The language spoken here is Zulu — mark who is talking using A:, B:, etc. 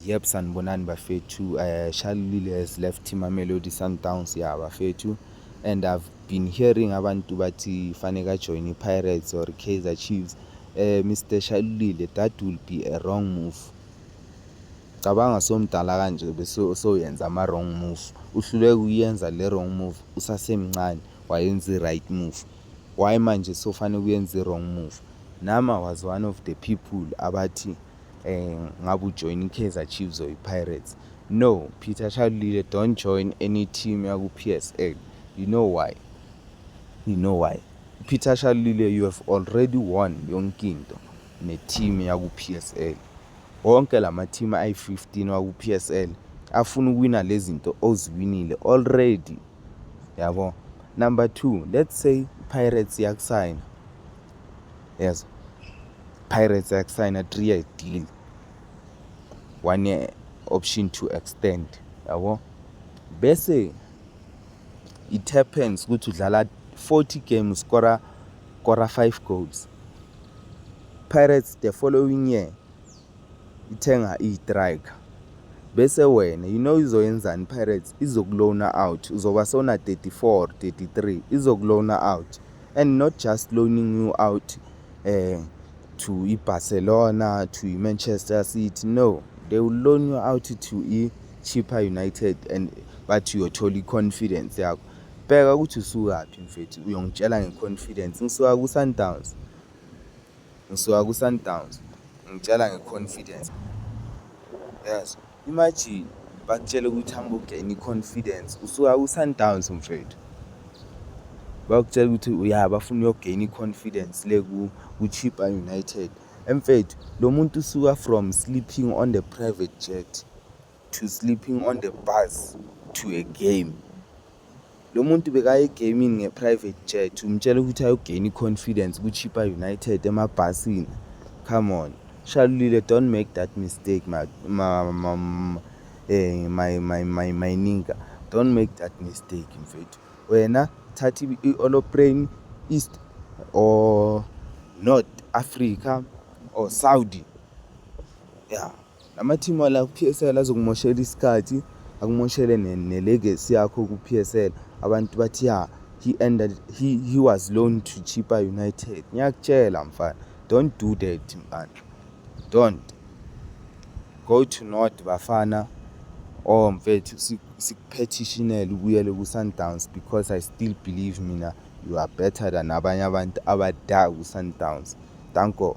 A: Yep, sanibonani bafethu. Uh, Shalulile has left Mamelodi Sundowns ya bafethu and I've been hearing abantu bathi fanele ajoin i-Pirates or Kaizer Chiefs. Uh, eh, Mr. Shalulile, that will be a wrong move. Cabanga somdala kanje bese soyenza ama wrong move. Uhluleke uyenza le wrong move usasemncane wayenza i-right move. Why manje sofanele uyenze i-wrong move? Nama was one of the people abathi eh ngabe ujoin iKaizer Chiefs or iPirates no Peter Shalulile don't join any team yaku PSL you know why you know why Peter Shalulile you have already won yonke into ne team yaku PSL wonke lama team ayi15 waku PSL afuna ukuwina lezinto oziwinile already yabo number 2 let's say Pirates yakusayina yazi Pirates yakusayina 3 year deal one year option to extend yabo bese it happens ukuthi udlala 40 games skora kora 5 goals Pirates the following year ithenga iyitrike bese wena you know izoyenzani ipirates izokulona out uzoba sona 34 33 izokulona out and not just loaning you out eh to ibarcelona to imanchester city no they will loan you out to i-cheaper united and bathi uyothola i-confidence yakho bheka ukuthi usukaphi mfethu uyongitshela nge-confidence ngisuka ku-sundowns Ngisuka kuSundowns. Ngitshela ngeconfidence. Yes. Imagine bakutshela ukuthi hamba ugain i-confidence. Usuka kuSundowns mfethu. Bakutshela ukuthi uya bafuna uyogain i-confidence le ku-Chippa United. Emfethu lo muntu usuka from sleeping on the private jet. to sleeping on the bus to a game lo muntu bekaye egamini nge-private jet umtshela ukuthi ayogeni i-confidence kuchipa united emabhasini come on shalulile don't make that mistake ma, ma, ma, ma, eh, my, my, my, my ninga don't make that mistake mfethu wena thatha i-oloprane east or north africa or saudi ya yeah. Amathimu ala ku-PSL azokumoshela isikhathi akumoshele ne-legacy yakho ku-PSL abantu bathi ya he ended he, he was loan to Chippa United ngiyakutshela mfana don't do that mfana don't go to north bafana oh mfethu sikuphethishinaele ubuyele ku-sundowns because i still believe mina you are better than abanye abantu abadala ku-sundowns danko